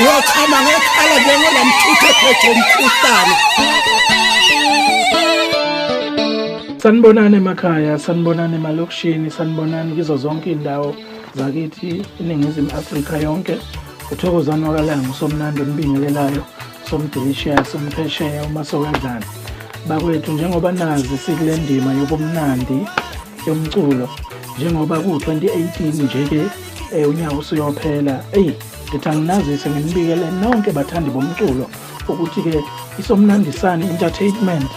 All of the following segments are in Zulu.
Uyochama ngekhala njengola mthuthe phethe umkhuhlane. Sanibonani emakhaya, sanibonani emalokishini, sanibonani kizo zonke indawo. zakithi iningizimu afrika yonke uthokozani wakalaya ngusomnandi ombingelelayo somdelishiya somphesheya uma sowedlana bakwethu njengoba nazi sikule ndima yobumnandi yomculo njengoba ku-2018 nje-ke um unyaka usuyophela eyi ngithi anginazise nginibikele nonke bathandi bomculo ukuthi-ke isomnandisane entertainment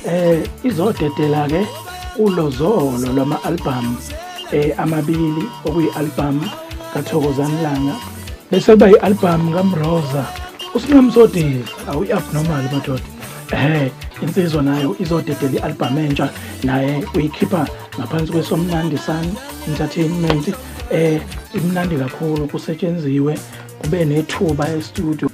eh izodedela ke ulozolo lwama album eh amabili okuyi album kaThokozani Langa bese kuba i album kaMroza usinomsodeli awuyi abnormal madoda eh insizwa nayo izodedela i album entsha naye uyikhipha ngaphansi kwesomnandisane entertainment eh imnandi kakhulu kusetshenziwe kube nethuba e studio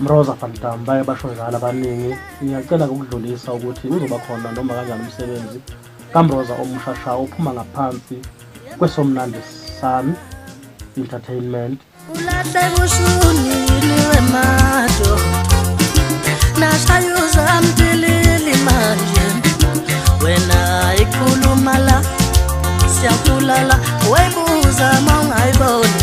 Mroza Fantam baye basho njalo abaningi ngiyacela ukudlulisa ukuthi uzoba khona noma kanjani umsebenzi kaMroza omushasha ophuma ngaphansi kwesomnandi Sun Entertainment nashayuza mtilili manje wena ikhuluma la siyakulala webuza mawungayiboni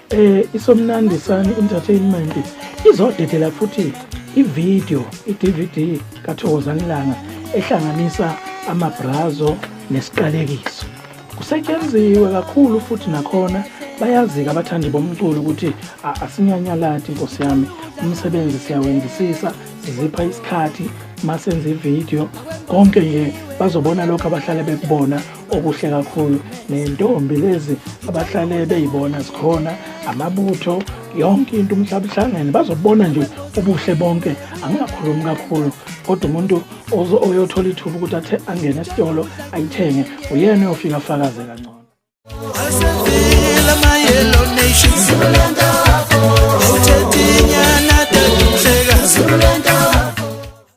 Eh isomnandi sani entertainment izodedela futhi ivideo iDVD kaThokozani Langa ehlanganisa amabrazo nesiqalekiso. Kusetshenziwe kakhulu futhi nakhona bayazika abathandi bomculo ukuthi asinyanyalati nkosi yami umsebenzi siyawenzisisa sizipha isikhathi masenze ivideo konke nje bazobona lokho abahlale bekubona okuhle kakhulu nentombi lezi abahlale beyibona zikhona amabutho yonke into umhlaba uhlangene bazobona nje ubuhle bonke angingakhulumi kakhulu kodwa umuntu oyothola ithuba ukuthi athe angene esitolo ayithenge uyena oyofika afakaze kangcono